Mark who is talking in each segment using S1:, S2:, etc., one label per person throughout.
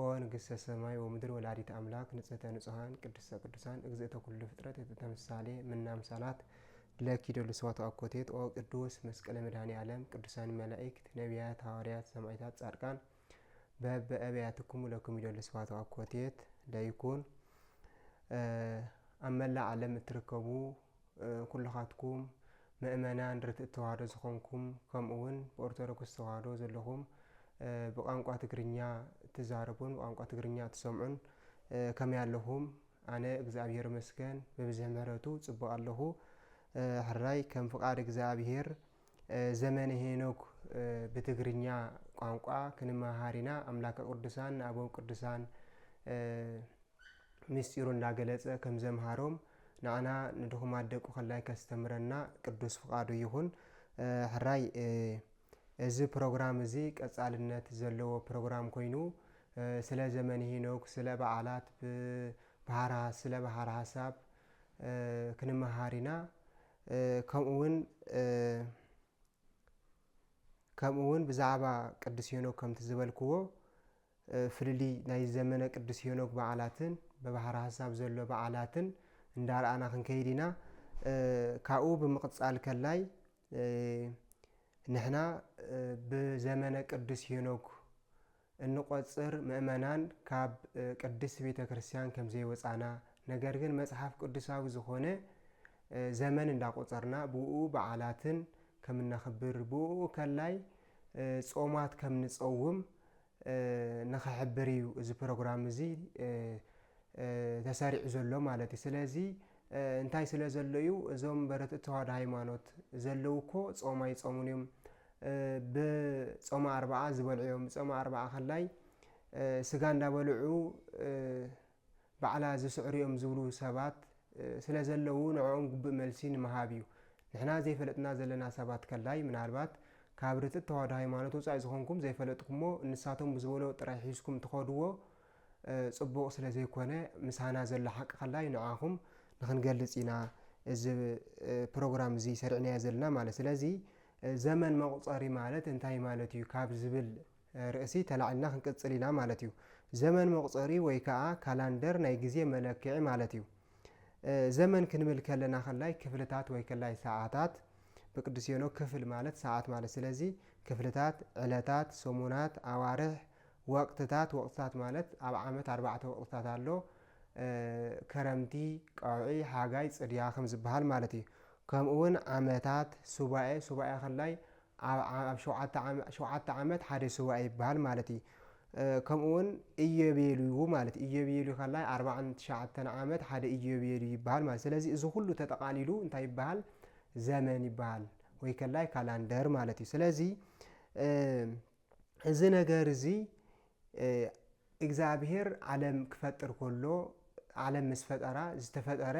S1: ኦ ንግሥተ ሰማይ ወምድር ወላዲተ ኣምላክ ንጽህተ ንጹሃን ቅድስተ ቅዱሳን እግዝእተ ኩሉ ፍጥረት እቲ ተምሳሌ ምና ኣምሳላት ለኪ ደሉ ሰዋቱ ኣኮቴት ኦ ቅዱስ መስቀለ መድኃኔ ዓለም ቅዱሳን መላእክት ነቢያት ሐዋርያት ሰማዕታት ጻድቃን በበአብያትክሙ ለክሙ ይደሉ ሰዋቱ አኮቴት ለይኩን ኣብ መላእ ዓለም እትርከቡ ኩልኻትኩም መእመናን ርትእት ተዋህዶ ዝኾንኩም ከምኡ ውን ብኦርቶዶክስ ተዋህዶ ዘለኹም ብቛንቋ ትግርኛ እትዛረቡን ብቛንቋ ትግርኛ እትሰምዑን ከመይ ኣለኹም? ኣነ እግዚኣብሔር ይመስገን ብብዝሒ ምህረቱ ጽቡቕ ኣለኹ። ሕራይ ከም ፍቓድ እግዚኣብሔር ዘመነ ሄኖክ ብትግርኛ ቋንቋ ክንመሃር ኢና ኣምላከ ቅዱሳን ንኣቦም ቅዱሳን ምስጢሩ እንዳገለጸ ከም ዘምሃሮም ንኣና ንድኹማት ደቁ ከላይ ከስተምረና ቅዱስ ፍቃዱ ይኹን ሕራይ እዚ ፕሮግራም እዚ ቀጻልነት ዘለዎ ፕሮግራም ኮይኑ ስለ ዘመን ሄኖክ ስለ በዓላት ብሃራ ስለ ብሃር ሃሳብ ክንመሃር ኢና ከምኡ ውን ከምኡ ውን ብዛዕባ ቅዱስ ሄኖክ ከምቲ ዝበልክዎ ፍልልይ ናይ ዘመነ ቅዱስ ሄኖክ በዓላትን ብባሕሪ ሀሳብ ዘሎ በዓላትን እንዳረኣና ክንከይድ ኢና ካብኡ ብምቕጻል ከላይ ንሕና ብዘመነ ቅዱስ ሄኖክ እንቆጽር ምእመናን ካብ ቅድስት ቤተ ክርስቲያን ከም ዘይወጻና ነገር ግን መጽሓፍ ቅዱሳዊ ዝኾነ ዘመን እንዳቆጸርና ብኡኡ በዓላትን ከም እነኽብር ብኡኡ ከላይ ጾማት ከም ንጸውም ንኽሕብር እዩ እዚ ፕሮግራም እዚ ተሰሪዑ ዘሎ ማለት እዩ ስለዚ እንታይ ስለ ዘሎ እዩ እዞም በረትት ተዋህዶ ሃይማኖት ዘለው እኮ ጾም ኣይጾሙን እዮም ብጾማ ኣርባዓ ዝበልዑ እዮም ብጾማ ኣርባዓ ከላይ ስጋ እንዳበልዑ ባዕላ ዝስዕሩ እዮም ዝብሉ ሰባት ስለ ዘለው ንዕኦም ጉብእ መልሲ ንምሃብ እዩ ንሕና ዘይፈለጥና ዘለና ሰባት ከላይ ምናልባት ካብ ርትት ተዋህዶ ሃይማኖት ወፃኢ ዝኾንኩም ዘይፈለጥኩሞ ንሳቶም ብዝበሎ ጥራይ ሒዝኩም ትኸድዎ ጽቡቕ ስለ ዘይኮነ ምሳና ዘሎ ሓቂ ከላይ ንዓኹም ንኽንገልጽ ኢና እዚ ፕሮግራም እዚ ሰሪዕናዮ ዘለና ማለት ስለዚ ዘመን መቑጸሪ ማለት እንታይ ማለት እዩ ካብ ዝብል ርእሲ ተላዒልና ክንቅጽል ኢና ማለት እዩ ዘመን መቑጸሪ ወይ ከኣ ካላንደር ናይ ግዜ መለክዒ ማለት እዩ ዘመን ክንብል ከለና ከላይ ክፍልታት ወይ ከላይ ሰዓታት ብቅዱስ ሄኖክ ክፍል ማለት ሰዓት ማለት ስለዚ ክፍልታት ዕለታት ሰሙናት ኣዋርሕ ወቅትታት፣ ወቅትታት ማለት ኣብ ዓመት ኣርባዕተ ወቅትታት ኣሎ፣ ከረምቲ፣ ቀውዒ፣ ሓጋይ፣ ጽድያ ከም ዝበሃል ማለት እዩ። ከምኡ ውን ዓመታት፣ ሱባኤ፣ ሱባኤ ከላይ ኣብ ኣብ ሸውዓተ ዓመ ሸውዓተ ዓመት ሓደ ሱባኤ ይበሃል ማለት እዩ። ከምኡ ውን እዮቤልዩ ማለት እዩ። እዮቤልዩ ከላይ ኣርባዓን ትሽዓተን ዓመት ሓደ እዮቤልዩ ይበሃል ማለት ስለዚ እዚ ኩሉ ተጠቓሊሉ እንታይ ይበሃል ዘመን ይበሃል። ወይ ከላይ ካላንደር ማለት እዩ። ስለዚ እዚ ነገር እዚ እግዚኣብሄር ዓለም ክፈጥር ከሎ ዓለም ምስ ፈጠራ ዝተፈጠረ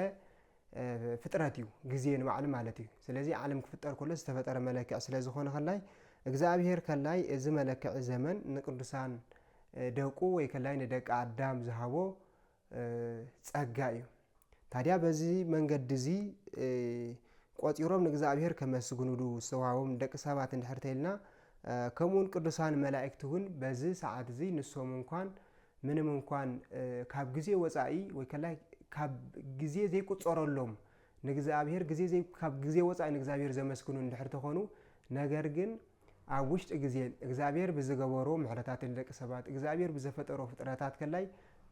S1: ፍጥረት እዩ ግዜ ንባዕሉ ማለት እዩ ስለዚ ዓለም ክፍጠር ከሎ ዝተፈጠረ መለክዕ ስለ ዝኾነ ከላይ እግዚኣብሄር ከላይ እዚ መለክዒ ዘመን ንቅዱሳን ደቁ ወይ ከላይ ንደቂ ኣዳም ዝሃቦ ጸጋ እዩ። ታዲያ በዚ መንገዲ እዚ ቆጺሮም ንእግዚኣብሔር ከመስግኑሉ ዝተዋህቦም ንደቂ ሰባት እንድሕር ተይልና ከምኡውን ቅዱሳን መላእክቲ እውን በዚ ሰዓት እዚ ንሶም እንኳን ምንም እንኳን ካብ ግዜ ወጻኢ ወይ ከላይ ካብ ግዜ ዘይቁጸረሎም ንእግዚኣብሔር ግዜ ካብ ግዜ ወጻኢ ንእግዚኣብሔር ዘመስግኑ እንድሕር ተኾኑ ነገር ግን ኣብ ውሽጢ ግዜን እግዚኣብሔር ብዝገበሮ ምሕረታት ንደቂ ሰባት እግዚኣብሔር ብዘፈጠሮ ፍጥረታት ከላይ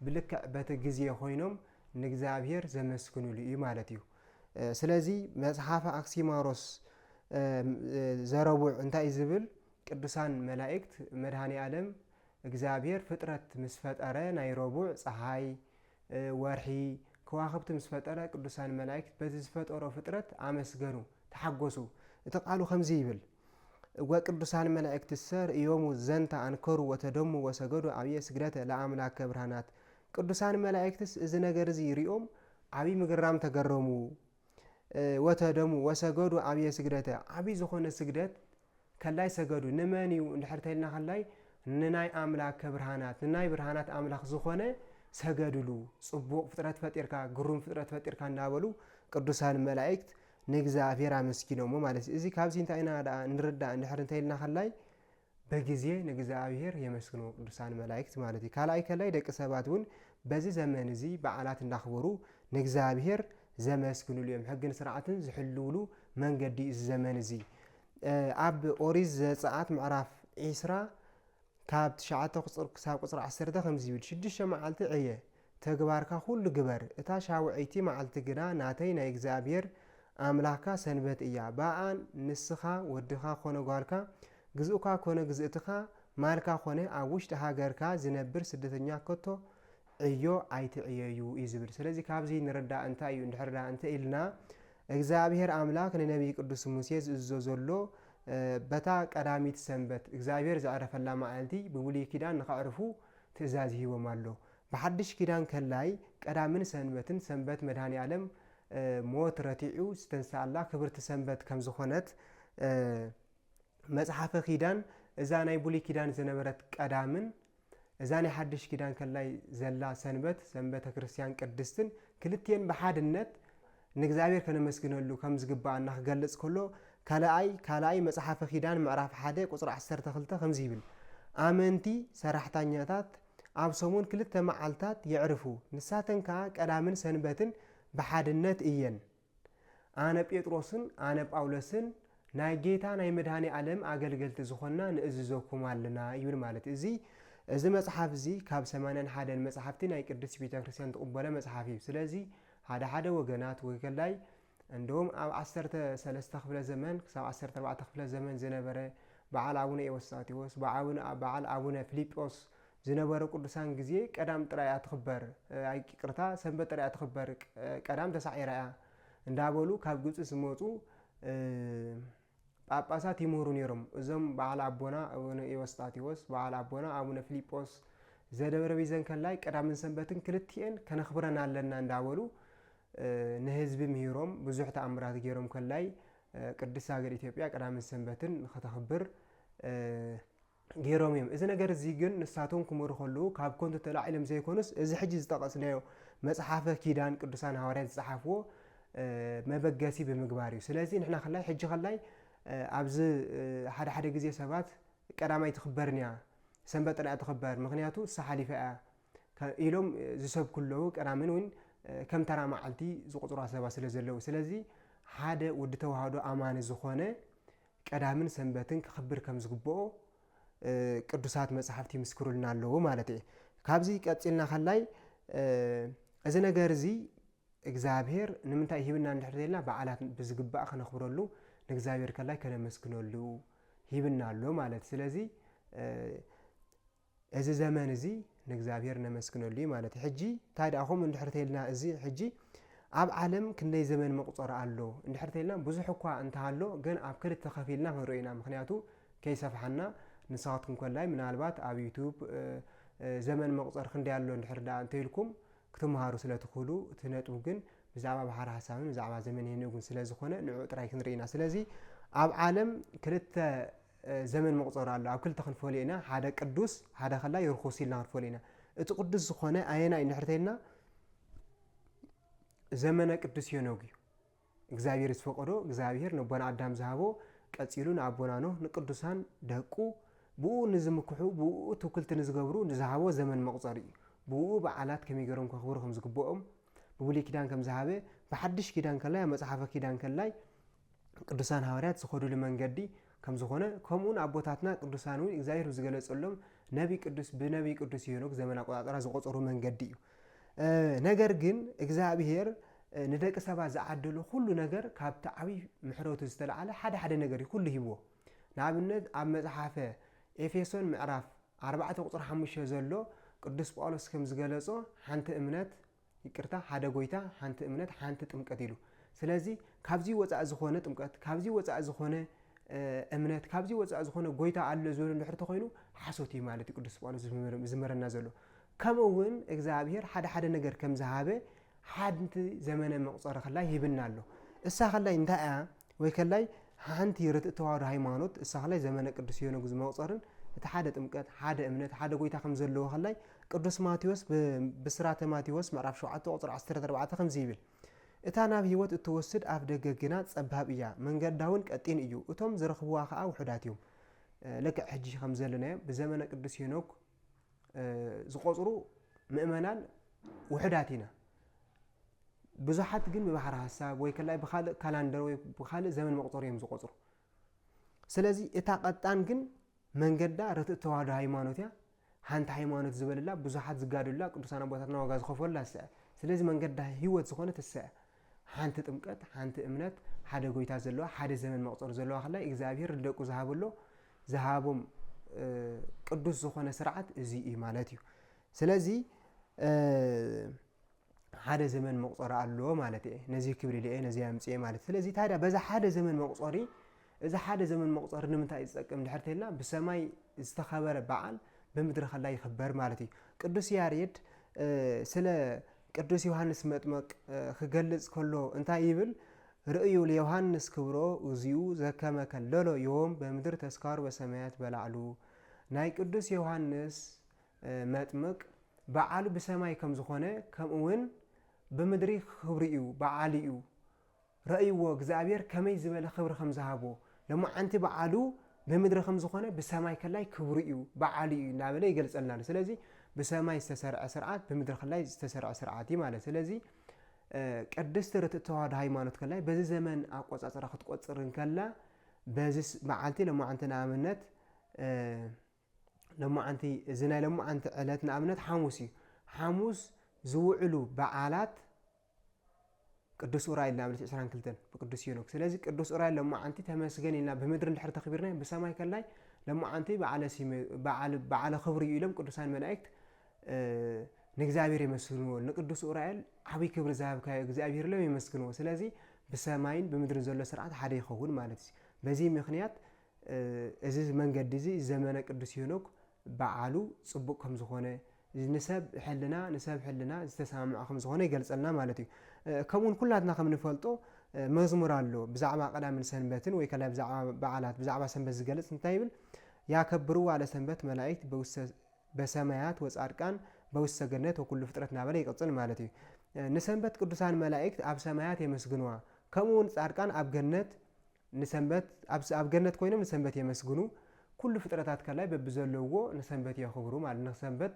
S1: ብልክዕ በቲ ግዜ ኮይኖም ንእግዚኣብሔር ዘመስግንሉ እዩ ማለት እዩ። ስለዚ መጽሓፈ ኣክሲማሮስ ዘረቡዕ እንታይ ዝብል ቅዱሳን መላእክት መድኃኔ ዓለም እግዚኣብሔር ፍጥረት ምስ ፈጠረ ናይ ረቡዕ ፀሓይ ወርሒ፣ ከዋኽብቲ ምስ ፈጠረ ቅዱሳን መላእክት በቲ ዝፈጠሮ ፍጥረት ኣመስገኑ፣ ተሓጐሱ። እቲ ቃሉ ከምዚ ይብል፣ ወቅዱሳን መላእክትሰ ርእዮሙ ዘንተ ኣንከሩ ወተደሙ ወሰገዱ ዓብየ ስግደተ ለኣምላከ ብርሃናት ቅዱሳን መላእክትስ እዚ ነገር እዚ ርእዮም ዓብይ ምግራም ተገረሙ ወተደሙ ወሰገዱ ዓብየ ስግደተ ዓብይ ዝኾነ ስግደት ከላይ ሰገዱ ንመን እዩ እንድሕር ተልና ከላይ ንናይ ኣምላከ ብርሃናት ንናይ ብርሃናት ኣምላኽ ዝኾነ ሰገድሉ ጽቡቕ ፍጥረት ፈጢርካ ግሩም ፍጥረት ፈጢርካ እንዳበሉ ቅዱሳን መላእክት ንእግዚኣብሔር ኣመስጊኖሞ ማለት እዩ እዚ ካብዚ እንታይ ኢና ደኣ ንርዳእ እንድሕር እንተይልና ከላይ በጊዜ ንእግዝኣብሄር የመስግንዎ ቅዱሳን መላኢክት ማለት እዩ። ካልኣይ ከላይ ደቂ ሰባት እውን በዚ ዘመን እዚ በዓላት እንዳኽበሩ ንእግዝኣብሄር ዘመስግንሉ እዮም። ሕግን ስርዓትን ዝሕልውሉ መንገዲ እዩ እዚ ዘመን እዚ። ኣብ ኦሪት ዘጸኣት ምዕራፍ ዒስራ ካብ ትሽዓተ ክሳብ ቁጽሪ ዓሰርተ ከምዚ ይብል ሽዱሽተ መዓልቲ ዕየ ተግባርካ ዅሉ ግበር፣ እታ ሻውዐይቲ መዓልቲ ግና ናተይ ናይ እግዚኣብሄር ኣምላኽካ ሰንበት እያ፣ ብኣኣን ንስኻ፣ ወድኻ ዀነ ጓልካ፣ ግዝኡካ ኰነ ግዝእትኻ፣ ማልካ ዀነ ኣብ ውሽጢ ሃገርካ ዚነብር ስደተኛ ከቶ ዕዮ ኣይትዕየዩ እዩ ዚብል። ስለዚ ካብዚ ንርዳእ እንታይ እዩ እንድሕር ደኣ እንተ ኢልና እግዚኣብሄር ኣምላኽ ንነብዪ ቅዱስ ሙሴ ዝእዝዞ ዘሎ በታ ቀዳሚት ሰንበት እግዚኣብሄር ዘዕረፈላ መዓልቲ ብብሉይ ኪዳን ንኸዕርፉ ትእዛዝ ሂቦም ኣሎ። ብሓድሽ ኪዳን ከላይ ቀዳምን ሰንበትን ሰንበት መድኃኔዓለም ሞት ረቲዑ ዝተንሥኣላ ክብርቲ ሰንበት ከም ዝኾነት መጽሓፈ ኪዳን እዛ ናይ ብሉይ ኪዳን ዝነበረት ቀዳምን እዛ ናይ ሓድሽ ኪዳን ከላይ ዘላ ሰንበት ሰንበተ ክርስቲያን ቅድስትን ክልቲኤን ብሓድነት ንእግዚኣብሔር ከነመስግነሉ ከም ዝግብኣና ክገልጽ ከሎ ካልኣይ ካልኣይ መጽሓፈ ኪዳን ምዕራፍ ሓደ ቁጽሪ ዓሰርተ ክልተ ከምዚ ይብል ኣመንቲ ሰራሕታኛታት ኣብ ሰሙን ክልተ መዓልታት የዕርፉ፣ ንሳተን ከኣ ቀዳምን ሰንበትን ብሓድነት እየን። ኣነ ጴጥሮስን ኣነ ጳውሎስን ናይ ጌታ ናይ መድኃኔ ዓለም ኣገልገልቲ ዝኾንና ንእዝዘኩም ኣለና ይብል ማለት እዚ እዚ መጽሓፍ እዚ ካብ ሰማንያን ሓደን መጽሓፍቲ ናይ ቅድስት ቤተ ክርስቲያን ትቕበሎ መጽሓፍ እዩ። ስለዚ ሓደ ሓደ ወገናት ወከላይ እንደውም ኣብ ዓሰርተ ሰለስተ ክፍለ ዘመን ክሳብ ዓሰርተ ኣርባዕተ ክፍለ ዘመን ዝነበረ በዓል ኣቡነ ኤዎስጣቴዎስ፣ በዓል ኣቡነ ፍሊጶስ ዝነበሩ ቅዱሳን ግዜ ቀዳም ጥራይ እያ ትኽበር፣ ይቅርታ ሰንበት ጥራይ እያ ትኽበር ቀዳም ተሳዒራ እያ እንዳበሉ ካብ ግብጺ ዝመጹ ጳጳሳት ይምህሩ ነይሮም። እዞም በዓል ኣቦና ኣቡነ ኤዎስጣቴዎስ፣ በዓል ኣቦና ኣቡነ ፍሊጶስ ዘደብረ ቢዘን ከላይ ቀዳምን ሰንበትን ክልቲኤን ከነኽብረን ኣለና እንዳበሉ ንህዝቢ ምሂሮም ብዙሕ ተኣምራት ገይሮም ከላይ ቅድስት ሃገር ኢትዮጵያ ቀዳምን ሰንበትን ንኸተኽብር ገይሮም እዮም። እዚ ነገር እዚ ግን ንሳቶም ክመሩ ከለዉ ካብ ኮንቱ ተላዒሎም ዘይኮኑስ እዚ ሕጂ ዝጠቐስናዮ መጽሓፈ ኪዳን ቅዱሳን ሃዋርያት ዝጸሓፍዎ መበገሲ ብምግባር እዩ። ስለዚ ንሕና ከላይ ሕጂ ከላይ ኣብዚ ሓደ ሓደ ግዜ ሰባት ቀዳማይ ትኽበርን እያ ሰንበት ጥራይ ትኽበር ምክንያቱ ሳሓሊፋ እያ ኢሎም ዝሰብኩ ኣለዉ ቀዳምን እውን ከም ተራ መዓልቲ ዝቁፅሯ ሰባት ስለ ዘለዉ ስለዚ ሓደ ወዲ ተዋህዶ ኣማኒ ዝኾነ ቀዳምን ሰንበትን ክኽብር ከም ዝግብኦ ቅዱሳት መጻሕፍቲ ይምስክሩልና ኣለዉ ማለት እየ። ካብዚ ቀጺልና ከላይ እዚ ነገር እዚ እግዚኣብሔር ንምንታይ ሂብና እንድሕር ተይልና በዓላት ብዝግባእ ክነኽብረሉ ንእግዚኣብሔር ከላይ ከነመስግነሉ ሂብና ኣሎ ማለት ስለዚ እዚ ዘመን እዚ ንእግዚኣብሔር ነመስግነሉ እዩ ማለት እዩ። ሕጂ እንታይ ደኣ ከምኡ እንድሕር ተይልና እዚ ሕጂ ኣብ ዓለም ክንደይ ዘመን መቁጸሪ ኣሎ እንድሕር ተይልና ብዙሕ እኳ እንተሃሎ ግን ኣብ ክልተ ከፊልና ክንሪኦ ኢና ምክንያቱ ከይሰፍሓና ንስኻትኩም ከላይ ምናልባት ኣብ ዩቱብ ዘመን መቁጸሪ ክንደይ ኣሎ እንድሕር ደኣ እንተይልኩም ክትምሃሩ ስለ ትኽእሉ እቲ ነጥቡ ግን ብዛዕባ ባሕሪ ሓሳብን ብዛዕባ ዘመን ሄኖግን ስለ ዝኾነ ንዕኡ ጥራይ ክንርኢ ኢና ስለዚ ኣብ ዓለም ክልተ ዘመን መቑጸሪ ኣሎ። ኣብ ክልተ ክንፈልዮ ኢና፣ ሓደ ቅዱስ፣ ሓደ ከላይ ርኹስ ኢልና ክንፈልዮ ኢና። እቲ ቅዱስ ዝኾነ ኣየናይ እንድሕር ተይልና ዘመነ ቅዱስ ሄኖግ እዩ። እግዚኣብሔር ዝፈቀዶ እግዚኣብሔር ነቦና ኣዳም ዝሃቦ ቀፂሉ ንኣቦና ኖህ ንቅዱሳን ደቁ ብኡ ንዝምክሑ ብኡ ትውክልቲ ንዝገብሩ ንዝሃቦ ዘመን መቁፀሪ እዩ ብኡ በዓላት ከመይ ገሮም ከኽብሩ ከም ዝግብኦም ብብሉይ ኪዳን ከም ዝሃበ ብሓድሽ ኪዳን ከላይ ኣብ መፅሓፈ ኪዳን ከላይ ቅዱሳን ሃዋርያት ዝኸዱሉ መንገዲ ከምዝኾነ ከምኡውን ኣቦታትና ቅዱሳን እውን እግዚኣብሔር ብዝገለጸሎም ነቢ ቅዱስ ብነቢ ቅዱስ ሄኖክ ዘመን ኣቆጣጠራ ዝቆጸሩ መንገዲ እዩ ነገር ግን እግዚኣብሔር ንደቂ ሰባት ዝዓደሎ ኩሉ ነገር ካብቲ ዓብይ ምሕረቱ ዝተላዓለ ሓደ ሓደ ነገር እዩ ኩሉ ሂብዎ ንኣብነት ኣብ መፅሓፈ ኤፌሶን ምዕራፍ 4 ቁፅሪ 5 ዘሎ ቅዱስ ጳውሎስ ከም ዝገለጾ ሓንቲ እምነት ይቅርታ ሓደ ጎይታ ሓንቲ እምነት ሓንቲ ጥምቀት ኢሉ ስለዚ ካብዚ ወፃኢ ዝኮነ ጥምቀት ካብዚ ወፃኢ ዝኮነ እምነት ካብዚ ወፃኢ ዝኮነ ጎይታ ኣሎ ዝበሉ ድሕር ተኮይኑ ሓሶት እዩ ማለት እዩ ቅዱስ ጳውሎስ ዝመረና ዘሎ ከምኡ እውን እግዚኣብሄር ሓደ ሓደ ነገር ከም ዝሃበ ሓንቲ ዘመነ መቁፀሪ ከላይ ሂብና ኣሎ እሳ ከላይ እንታይ እያ ወይከላይ ሓንቲ ርትእት ተዋህዶ ሃይማኖት እሳኸላይ ዘመነ ቅዱስ ዮኖግ ዝመቁፀርን እቲ ሓደ ጥምቀት ሓደ እምነት ሓደ ጎይታ ከም ዘለዎ ከላይ ቅዱስ ማቴዎስ ብስራተ ማቴዎስ ምዕራፍ 7 ቁፅሪ 14 ከምዚ ይብል እታ ናብ ህይወት እትወስድ ኣፍ ደገ ግና ጸባብ እያ መንገዳ እውን ቀጢን እዩ እቶም ዝረኽብዋ ከኣ ውሑዳት እዮም ልክዕ ሕጂ ከም ዘለናዮ ብዘመነ ቅዱስ ሄኖክ ዝቖጽሩ ምእመናን ውሕዳት ኢና። ብዙሓት ግን ብባሕሪ ሀሳብ ወይ ከላይ ብካልእ ካላንደር ወይ ብካልእ ዘመን መቁፀሪ እዮም ዝቆፅሩ ስለዚ እታ ቀጣን ግን መንገዳ ርትእ ተዋህዶ ሃይማኖት እያ ሓንቲ ሃይማኖት ዝበልላ ብዙሓት ዝጋድሉላ ቅዱሳን ኣቦታትና ዋጋ ዝኸፈሉላ እሳ እያ ስለዚ መንገዳ ህይወት ዝኾነ እሳ እያ ሓንቲ ጥምቀት፣ ሓንቲ እምነት፣ ሓደ ጎይታ ዘለዋ፣ ሓደ ዘመን መቕጸሩ ዘለዋ ከላይ እግዚኣብሔር ንደቁ ዝሃበሎ ዝሃቦም ቅዱስ ዝኾነ ስርዓት እዚ እዩ ማለት እዩ። ስለዚ ሓደ ዘመን መቁፀሪ ኣሎ ማለት እየ ነዚ ክብል ኢለ ነዚ ኣምፅኤ ማለት ስለዚ ታዲያ በዛ ሓደ ዘመን መቁፀሪ እዚ ሓደ ዘመን መቁፀሪ ንምንታይ እዩ ዝጠቅም ድሕር ተልና ብሰማይ ዝተኸበረ በዓል ብምድሪ ከላ ይኽበር ማለት እዩ ቅዱስ ያሬድ ስለ ቅዱስ ዮሃንስ መጥመቅ ክገልጽ ከሎ እንታይ ይብል? ርእዩ ለዮሃንስ ክብሮ እግዚኡ ዘከመ ከለሎ ዮም በምድር ተስካሩ በሰማያት በላዕሉ ናይ ቅዱስ ዮሃንስ መጥምቅ በዓሉ ብሰማይ ከም ዝኾነ ከምኡውን ብምድሪ ክብሪ እዩ በዓሉ እዩ ረእይዎ እግዚኣብሔር ከመይ ዝበለ ክብሪ ከም ዝሃቦ ሎማዓንቲ በዓሉ ብምድሪ ከም ዝኾነ ብሰማይ ከላይ ክብሩ እዩ በዓሉ እዩ እናበለ ይገልጸልና ኣሎ ስለዚ ብሰማይ ዝተሰርዐ ስርዓት ብምድሪ ከላይ ዝተሰርዐ ስርዓት እዩ ማለት ስለዚ ቅድስቲ ርትእት ተዋህዶ ሃይማኖት ከላይ በዚ ዘመን ኣቆጻጽራ ክትቆጽር እንከላ በዚ መዓልቲ ሎማዓንቲ ንኣብነት ሎማዓንቲ እዚ ናይ ሎማዓንቲ ዕለት ንኣብነት ሓሙስ እዩ ሓሙስ ዝውዕሉ በዓላት ቅዱስ ኡራኤል ናብ ዕለት ዕስራን ክልተን ብቅዱስ ሄኖክ ስለዚ ቅዱስ ኡራኤል ሎማዓንቲ ተመስገን ኢልና ብምድሪ እንድሕር ተኽቢርና ብሰማይ ከላይ ሎማዓንቲ በዓለ ሲመ በዓል በዓለ ክብሪ እዩ ኢሎም ቅዱሳን መላእክት ንእግዚኣብሔር የመስግንዎ ንቅዱስ ኡራኤል ዓብይ ክብሪ ዝሃብካዮ እግዚኣብሔር ኢሎም የመስግንዎ ስለዚ ብሰማይን ብምድርን ዘሎ ስርዓት ሓደ ይኸውን ማለት እዩ በዚ ምክንያት እዚ መንገዲ እዚ ዘመነ ቅዱስ ሄኖክ በዓሉ ጽቡቕ ከም ዝኾነ፣ ንሰብ ሕልና ንሰብ ሕልና ዝተሰማምዐ ከም ዝኾነ ይገልጸልና ማለት እዩ። ከምኡ ውን ኩላትና ከም ንፈልጦ መዝሙር ኣሎ ብዛዕባ ቀዳምን ሰንበትን ወይ ከላይ ብዛዕባ በዓላት ብዛዕባ ሰንበት ዝገልጽ እንታይ ይብል ያከብርዋ ለሰንበት መላእክት በውስተ በሰማያት ወጻድቃን በውስተ ገነት ወኩሉ ፍጥረት እናበለ ይቕጽል ማለት እዩ። ንሰንበት ቅዱሳን መላእክት ኣብ ሰማያት የመስግንዋ ከምኡ ውን ጻድቃን ኣብ ገነት ንሰንበት ኣብ ኣብ ገነት ኮይኖም ንሰንበት የመስግኑ ኩሉ ፍጥረታት ከላይ በብዘለውዎ ንሰንበት የኽብሩ ማለት ንሰንበት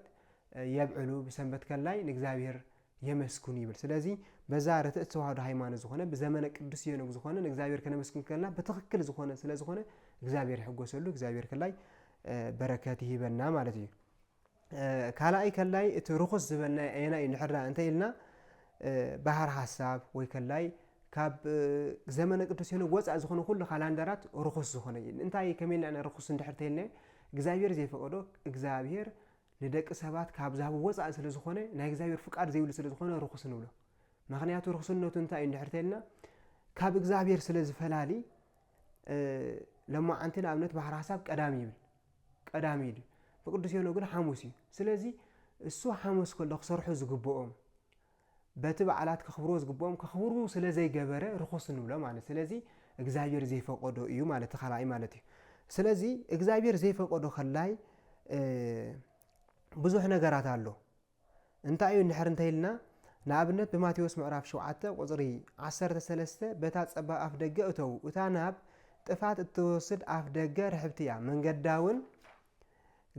S1: የብዕሉ ብሰንበት ከላይ ንእግዚኣብሔር የመስግኑ ይብል ስለዚ በዛ ርትዕት ተዋህዶ ሃይማኖት ዝኾነ ብዘመነ ቅዱስ ሄኖክ ዝኾነ ንእግዚኣብሔር ከነመስግን ከለና ብትኽክል ዝኾነ ስለ ዝኾነ እግዚኣብሔር ይሕጎሰሉ እግዚኣብሔር ከላይ በረከት ይህበና ማለት እዩ ካልኣይ ከላይ እቲ ርኹስ ዝበልናዮ ኣየናይ እዩ እንድሕር ደኣ እንተ ኢልና ባህር ሐሳብ ወይ ከላይ ካብ ዘመነ ቅዱስ ሄኖክ ወፃእ ዝኾነ ኩሉ ካላንደራት ርኹስ ዝኾነ እዩ እንታይ ከመይ ኢልና ኢና ርኹስ እንድሕር ተይልናዮ እግዚኣብሔር ዘይፈቀዶ እግዚኣብሔር ንደቂ ሰባት ካብ ዝሃቡ ወፃእ ስለ ዝኾነ ናይ እግዚኣብሔር ፍቃድ ዘይብሉ ስለ ዝኾነ ርኹስ ንብሎ ምክንያቱ ርኹስነቱ እንታይ እዩ እንድሕር ተይልና ካብ እግዚኣብሔር ስለ ዝፈላሊ ለማዓንቲ ንኣብነት ባህር ሐሳብ ቀዳም ይብል ቀዳም ኢዩ ንቅዱስ ዮኖ ግን ሓሙስ ኢዩ ስለዚ እሱ ሓሙስ ከሎ ክሰርሑ ዝግብኦም በቲ በዓላት ከኽብርዎ ዝግብኦም ከኽብሩ ስለ ዘይገበረ ርኹስ ንብሎ ማለት ስለዚ እግዚኣብሔር ዘይፈቀዶ ኢዩ ማለት እቲ ካልኣይ ማለት ኢዩ ስለዚ እግዚኣብሔር ዘይፈቀዶ ከላይ ብዙሕ ነገራት ኣሎ እንታይ እዩ እንድሕር እንተይልና ንኣብነት ብማቴዎስ ምዕራፍ ሸውዓተ ቁጽሪ ዓሰርተ ሰለስተ በታ ጸባብ ኣፍ ደገ እተዉ እታ ናብ ጥፋት እትወስድ ኣፍ ደገ ርሕብቲ እያ መንገዳውን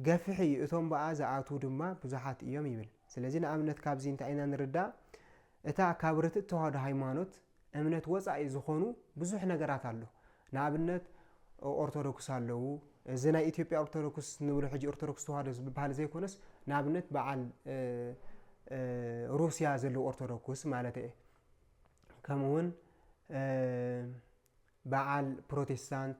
S1: ገፍሕ እዩ እቶም ብኣ ዝኣትዉ ድማ ብዙሓት እዮም ይብል ስለዚ ንኣብነት ካብዚ እንታይ ኢና ንርዳእ እታ ካብ ርትእት ተዋህዶ ሃይማኖት እምነት ወጻኢ ዝኾኑ ብዙሕ ነገራት ኣሎ ንኣብነት ኦርቶዶክስ ኣለዉ እዚ ናይ ኢትዮጵያ ኦርቶዶክስ ንብሎ ሕጂ ኦርቶዶክስ ተዋህዶ ዝበሃል ዘይኮነስ ንኣብነት በዓል ሩስያ ዘለዉ ኦርቶዶክስ ማለት እየ ከምኡውን በዓል ፕሮቴስታንት፣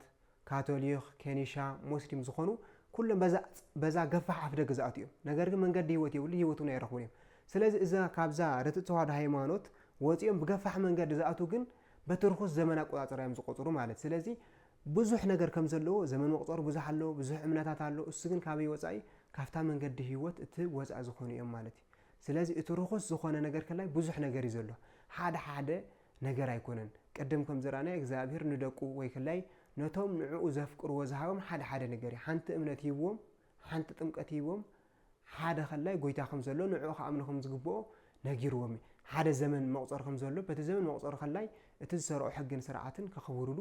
S1: ካቶሊኽ፣ ኬኒሻ፣ ሞስሊም ዝኾኑ ኩሎም በዛ በዛ ገፋሕ ኣፍደገ ዝኣትው እዮም። ነገር ግን መንገዲ ህይወት የብሉ ህይወት እውን ኣይረኽቡን እዮም። ስለዚ እዛ ካብዛ ርትዕት ተዋህዶ ሃይማኖት ወጺኦም ብገፋሕ መንገዲ ዝኣትው ግን በቲ ርኹስ ዘመን ኣቆጻጽራ እዮም ዝቆጽሩ ማለት ስለዚ ብዙሕ ነገር ከም ዘለዎ ዘመን መቁጸሩ ብዙሕ ኣሎ ብዙሕ እምነታት ኣሎ እሱ ግን ካበይ ወጻኢ ካብታ መንገዲ ህይወት እቲ ወጻኢ ዝኾኑ እዮም ማለት እዩ ስለዚ እቲ ርኹስ ዝኾነ ነገር ከላይ ብዙሕ ነገር እዩ ዘሎ ሓደ ሓደ ነገር ኣይኮነን። ቅድም ከም ዝረኣናዮ እግዚኣብሄር ንደቁ ወይ ክላይ ነቶም ንዕኡ ዘፍቅርዎ ዝሃቦም ሓደ ሓደ ነገር እዩ። ሓንቲ እምነት ሂብዎም፣ ሓንቲ ጥምቀት ሂብዎም፣ ሓደ ክላይ ጎይታ ከም ዘሎ ንዕኡ ክኣምኑ ከም ዝግብኦ ነጊርዎም እዩ። ሓደ ዘመን መቑጸሪ ከም ዘሎ በቲ ዘመን መቑጸሪ ክላይ እቲ ዝሰርዖ ሕግን ስርዓትን ከኽብሩሉ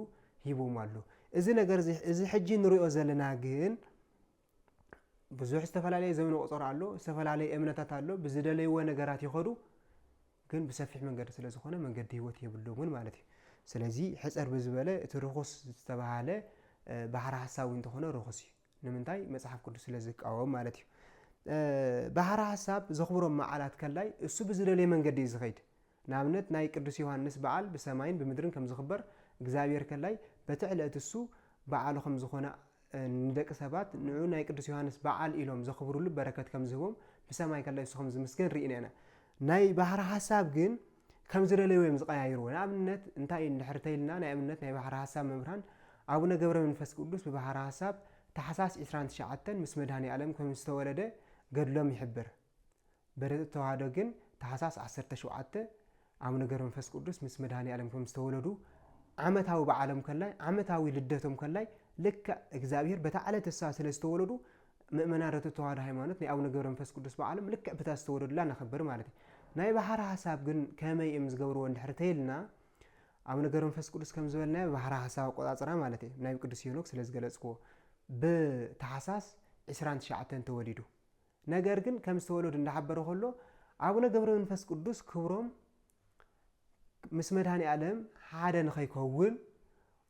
S1: ሂብዎም ኣሎ። እዚ ነገር እዚ እዚ ሕጂ ንሪኦ ዘለና ግን ብዙሕ ዝተፈላለየ ዘመን ቁፀሮ ኣሎ ዝተፈላለየ እምነታት ኣሎ ብዝደለይዎ ነገራት ይኸዱ ግን ብሰፊሕ መንገዲ ስለ ዝኾነ መንገዲ ህይወት የብሎምን ማለት እዩ ስለዚ ሕፀር ብዝበለ እቲ ርኹስ ዝተባሃለ ባህር ሓሳብ እንተኾነ ርኹስ እዩ ንምንታይ መፅሓፍ ቅዱስ ስለ ዝቃወም ማለት እዩ ባህር ሓሳብ ዘኽብሮም መዓላት ከላይ እሱ ብዝደለየ መንገዲ እዩ ዝኸይድ ንኣብነት ናይ ቅዱስ ዮሃንስ በዓል ብሰማይን ብምድርን ከም ዝኽበር እግዚኣብሔር ከላይ በቲ ዕለእቲ እሱ በዓሉ ከም ዝኾነ ንደቂ ሰባት ንዑ ናይ ቅዱስ ዮሃንስ በዓል ኢሎም ዘኽብሩሉ በረከት ከም ዝህቦም ብሰማይ ከላይ እሱ ከም ዝምስገን ርኢና ኢና። ናይ ባሕረ ሐሳብ ግን ከም ዝደለዩ እዮም ዝቀያይርዎ ንኣብነት እንታይ እንድሕር ተይልና ናይ ኣብነት ናይ ባሕረ ሐሳብ መምህራን ኣቡነ ገብረ መንፈስ ቅዱስ ብባሕረ ሐሳብ ታሕሳስ ዕስራን ትሽዓተን ምስ መድኃኔ ኣለም ከም ዝተወለደ ገድሎም ይሕብር። በረድቲ ተዋህዶ ግን ታሕሳስ ዓሰርተ ሸውዓተ ኣቡነ ገብረመንፈስ ቅዱስ ምስ መድኃኔዓለም ከም ዝተወለዱ ዓመታዊ በዓሎም ከላይ ዓመታዊ ልደቶም ከላይ ልክዕ እግዚኣብሔር በታ ዕለት እሳ ስለ ዝተወለዱ ምእመናን ርቱ ተዋህዶ ሃይማኖት ናይ ኣቡነ ገብረመንፈስ ቅዱስ በዓሎም ልክዕ ብታ ዝተወለዱላ ነኸብር ማለት እዩ ናይ ባሕሪ ሓሳብ ግን ከመይ እዮም ዝገብርዎ እንድሕር ተይልና ኣቡነ ገብረመንፈስ ቅዱስ ከም ዝበልናዮ ብባሕሪ ሓሳብ ኣቆፃፅራ ማለት እዩ ናይ ቅዱስ ሄኖክ ስለ ዝገለፅክዎ ብታሕሳስ 29 ተወሊዱ ነገር ግን ከም ዝተወለዱ እንዳሓበረ ከሎ ኣቡነ ገብረመንፈስ ቅዱስ ክብሮም ምስ መድኃኔዓለም ሓደ ንኸይከውን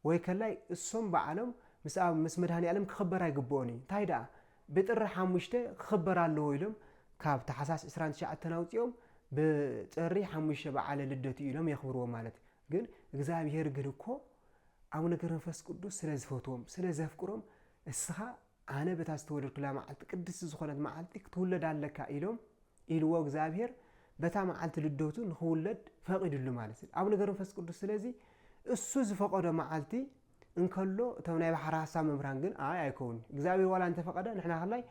S1: ወይ ከላይ እሶም በዓሎም ምስ ኣብ ምስ መድኃኔዓለም ክኽበር ኣይግብኦን እዩ እንታይ ደኣ ብጥሪ ሓሙሽተ ክኽበር ኣለዎ ኢሎም ካብ ታሕሳስ ዕስራን ትሽዓተን ኣውጺኦም ብጥሪ ሓሙሽተ በዓለ ልደቱ ኢሎም የኽብርዎ ማለት እዩ ግን እግዚኣብሔር ግን እኮ ኣቡነ ገብረመንፈስ ቅዱስ ስለ ዝፈትዎም ስለ ዘፍቅሮም እስኻ ኣነ በታ ዝተወለድኩላ መዓልቲ ቅድስቲ ዝኾነት መዓልቲ ክትውለድ ኣለካ ኢሎም ኢልዎ እግዚኣብሔር በታ መዓልቲ ልደቱ ንክውለድ ፈቂድሉ ማለት እዩ ኣቡነ ገብረ መንፈስ ቅዱስ ስለዚ እሱ ዝፈቀዶ መዓልቲ እንከሎ እቶም ናይ ባሕሪ ሀሳብ መምህራን ግን ኣይ ኣይከውን እግዚኣብሔር ዋላ እንተፈቀደ ንሕና ከላይ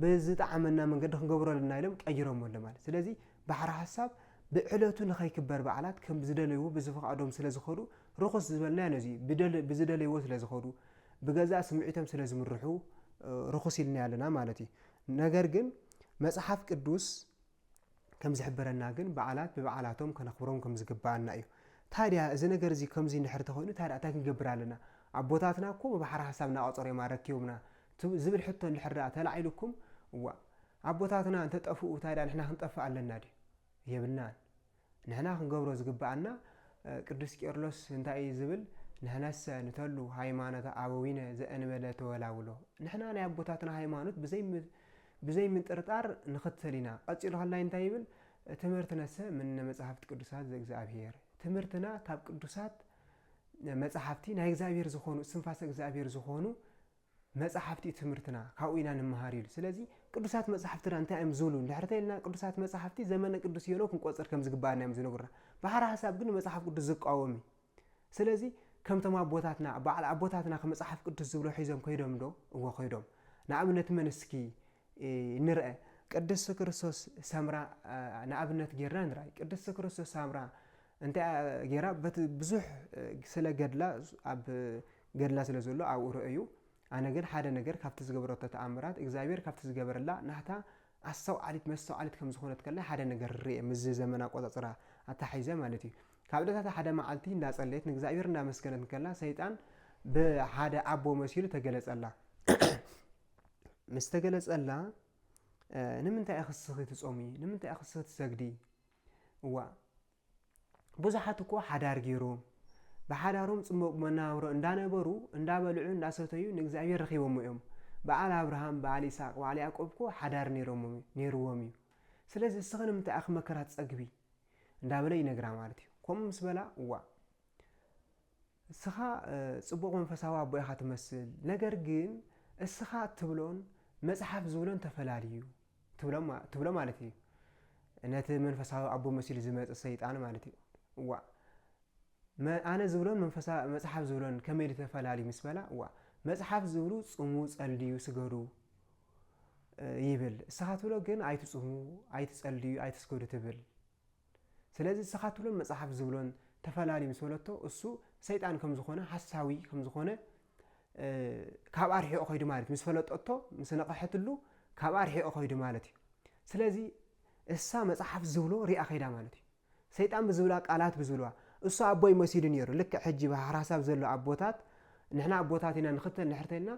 S1: ብዝጠዓመና መንገዲ ክንገብሮ ኣለና ኢሎም ቀይሮሞ ኣሎ ማለት ስለዚ ባሕሪ ሀሳብ ብዕለቱ ንኸይክበር በዓላት ከም ዝደለይዎ ብዝፈቃዶም ስለ ዝኸዱ ርኹስ ዝበልናዮ ነዚ ብደል- ብዝደለይዎ ስለ ዝኸዱ ብገዛእ ስምዒቶም ስለ ዝምርሑ ርኹስ ኢልናዮ ኣለና ማለት እዩ። ነገር ግን መጽሓፍ ቅዱስ ከም ዝሕብረና ግን በዓላት ብበዓላቶም ከነኽብሮም ከም ዝግብኣና እዩ። ታዲያ እዚ ነገር እዚ ከምዚ እንድሕር ተኾይኑ ታዲያ እንታይ ክንገብር ኣለና? ኣቦታትና እኮ ብባሕሪ ሓሳብ እናቐጸሩ እዮም ኣረኪቦምና ዝብል ሕቶ እንድሕር ደኣ ተላዒሉኩም እዋእ ኣቦታትና እንተጠፍኡ ታዲያ ንሕና ክንጠፍእ ኣለና ድዩ? የብልናን። ንሕና ክንገብሮ ዝግበኣና ቅዱስ ቄርሎስ እንታይ እዩ ዝብል ንሕነሰ ንተሉ ሃይማኖተ ኣበዊነ ዘእንበለ ተወላውሎ ንሕና ናይ ኣቦታትና ሃይማኖት ብዘይ ምጥርጣር ንኽተል ኢና ቀጺሉ ከላይ እንታይ ይብል ትምህርትነሰ ምነ መጻሕፍት ቅዱሳት ዘእግዚኣብሔር ትምህርትና ካብ ቅዱሳት መጻሕፍቲ ናይ እግዚኣብሔር ዝኾኑ ስንፋሰ እግዚኣብሔር ዝኾኑ መጻሕፍቲ ትምህርትና ካብኡ ኢና ንመሃር ኢሉ። ስለዚ ቅዱሳት መጻሕፍትና እንታይ እዮም ዝብሉ እንድሕር ተኢልና ቅዱሳት መጻሕፍቲ ዘመነ ቅዱስ ሄኖክ ክንቆጽር ከም ዝግብኣና እዮም ዝነግሩና። ብሓራ ሓሳብ ግን ንመጽሓፍ ቅዱስ ዝቃወም እዩ። ስለዚ ከምቶም ኣቦታትና በዓል ኣቦታትናኸ መጽሓፍ ቅዱስ ዝብሎ ሒዞም ከይዶምዶ? እወ ከይዶም። ንኣብነት መን እስኪ ንርኣ። ቅድስት ክርስቶስ ሰምራ ንኣብነት ጌርና ንርኣይ። ቅድስት ክርስቶስ ሰምራ እንታይ ገይራ በቲ ብዙሕ ስለ ገድላ ኣብ ገድላ ስለ ዘሎ ኣብኡ ረኣዩ ኣነ ግን ሓደ ነገር ካብቲ ዝገበረቶ ተኣምራት እግዚኣብሔር ካብቲ ዝገበረላ ናህታ ኣስተውዓሊት መስተውዓሊት ከም ዝኾነት ከላይ ሓደ ነገር ርኤ ምስዚ ዘመን ኣቆጻጽራ ኣታሓሒዘ ማለት እዩ ካብ ዕለታት ሓደ መዓልቲ እንዳጸለየት ንእግዚኣብሔር እንዳመስገነት ከላ ሰይጣን ብሓደ ኣቦ መሲሉ ተገለጸላ ምስ ተገለጸላ ንምንታይ ክስኺ ትጾሚ ንምንታይ ክስኺ ትሰግዲ እዋ ብዙሓት እኮ ሓዳር ገይሮም ብሓዳሮም ፅሙቅ መነባብሮ እንዳነበሩ እንዳበልዑ እንዳሰተዩ ንእግዚኣብሔር ረኪቦሞ እዮም በዓል ኣብርሃም በዓል ኢሳቅ በዓል ያእቆብ እኮ ሓዳር ነይርዎም እዩ ስለዚ እስኪ ንምንታይ ኣኪ መከራ ትፀግቢ እንዳበለ ይነግራ ማለት እዩ ከምኡ ምስ በላ እዋእ እስኻ ጽቡቕ መንፈሳዊ ኣቦ ኢኻ ትመስል፣ ነገር ግን እስኻ እትብሎን መጽሓፍ ዝብሎን ተፈላልዩ ትብሎ ማለት እዩ። ነቲ መንፈሳዊ ኣቦ መሲሉ ዝመጽእ ሰይጣን ማለት እዩ። እዋ ኣነ ዝብሎን መንፈሳ መጽሓፍ ዝብሎን ከመይ ኢሉ ተፈላልዩ ምስ በላ እዋ መጽሓፍ ዝብሉ ጽሙ፣ ጸልዩ፣ ስገዱ ይብል። እስኻ ትብሎ ግን ኣይትጽሙ፣ ኣይትጸልዩ፣ ኣይትስገዱ ትብል። ስለዚ እስኻ ትብሎን መጽሓፍ ዝብሎን ተፈላሊ ምስ በለቶ እሱ ሰይጣን ከም ዝኾነ ሓሳዊ ከም ዝኾነ ካብኣ ርሒቑ ከይዱ ማለት እዩ ምስ ፈለጠቶ ምስ ነቐሐትሉ ካብኣ ርሒቑ ከይዱ ማለት እዩ ስለዚ እሳ መጽሓፍ ዝብሎ ሪኣ ከይዳ ማለት እዩ ሰይጣን ብዝብላ ቃላት ብዝብልዋ እሱ ኣቦይ መሲሉ ነይሩ ልክዕ ሕጂ ብሓራሳብ ዘሎ ኣቦታት ንሕና ኣቦታት ኢና ንኽተል ንሕርተልና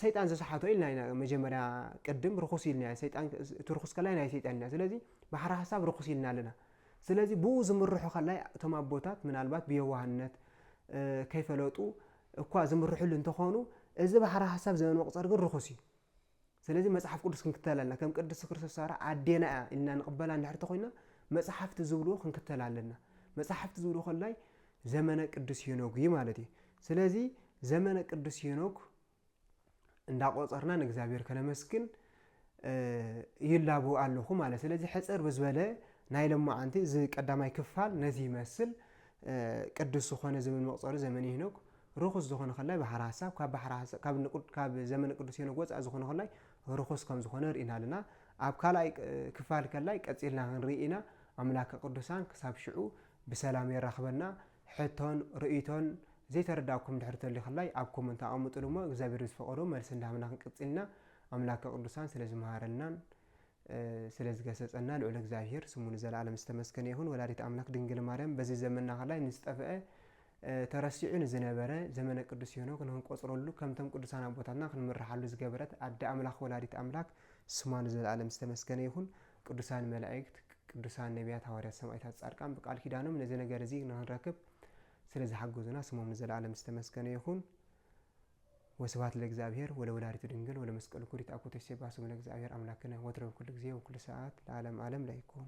S1: ሰይጣን ዝሰሓቶ ኢልና ኢና መጀመርያ ቅድም ርኹስ ኢልናዮ ሰይጣን እቲ ርኹስ ከላይ ናይ ሰይጣን ኢና ስለዚ ባሕሪ ሓሳብ ርኹስ ኢልና ኣለና ስለዚ ብኡ ዝምርሑ ከላይ እቶም ኣቦታት ምናልባት ብየዋህነት ከይፈለጡ እኳ ዝምርሕሉ እንተኾኑ እዚ ባሕሪ ሓሳብ ዘመን መቁፀር ግን ርኹስ እዩ ስለዚ መጽሓፍ ቅዱስ ክንክተል ኣለና ከም ቅድስቲ ክርስቶስ ሳራ ኣዴና እያ ኢልና ንቕበላ እንድሕር ተኮይና መጽሓፍቲ ዝብልዎ ክንክተል ኣለና መጽሓፍቲ ዝብልዎ ከላይ ዘመነ ቅዱስ ሄኖግ እዩ ማለት እዩ። ስለዚ ዘመነ ቅዱስ ሄኖግ እንዳቆፀርና ንእግዚኣብሔር ከነመስግን ይላቡ ኣለኹ ማለት ስለዚ ሕፅር ብዝበለ ናይ ለማዓንቲ እዚ ቀዳማይ ክፋል ነዚ ይመስል ቅዱስ ዝኾነ ዘመን መቁፀሪ ዘመን ሄኖክ ርኹስ ዝኾነ ከላይ ባሕሪ ሀሳብ ካብ ባሕሪ ሀሳብ ካብ ንቁድ ካብ ዘመን ቅዱስ ሄኖክ ወፃእ ዝኾነ ከላይ ርኹስ ከም ዝኾነ ርኢና ኣለና ኣብ ካልኣይ ክፋል ከላይ ቀፂልና ክንርኢ ኢና ኣምላከ ቅዱሳን ክሳብ ሽዑ ብሰላም የራክበና ሕቶን ርእይቶን ዘይተረዳኩም ድሕሪ ተልዩ ክላይ ኣብ ኮመንት ኣቀምጥሉ እሞ እግዚኣብሔር ምስ ፈቀዶ መልሲ እንዳሃብና ክንቅጽል ኢና ኣምላከ ቅዱሳን ስለ ዝመሃረናን ስለ ዝገሰጸና ልዑል እግዚኣብሔር ስሙ ንዘለኣለም ዝተመስገነ ይኹን ወላዲት ኣምላክ ድንግል ማርያም በዚ ዘመንና ክላይ ንዝጠፍአ ተረሲዑ ንዝነበረ ዘመነ ቅዱስ ሄኖክ ንክንቆጽረሉ ከምቶም ቅዱሳን ኣቦታትና ክንምርሓሉ ዝገበረት ኣደ ኣምላክ ወላዲት ኣምላክ ስማ ንዘለኣለም ዝተመስገነ ይኹን ቅዱሳን መላእክት ቅዱሳን ነብያት ሃዋርያት ሰማእታት ጻድቃን ብቃል ኪዳኖም ነዚ ነገር እዚ ንክንረክብ ስለ ዝሓገዙና ስሞም ንዘለኣለም ዝተመስገነ ይኹን ወስብሐት ለእግዚኣብሔር ወለወላዲቱ ድንግል ወለመስቀሉ ክቡር ይትአኮቶ ይሴብሐ ስሙ ለእግዚኣብሔር አምላክነ ወትረ በኩሉ ጊዜ ወኩሉ ሰዓት ለዓለም ዓለም ለይኩን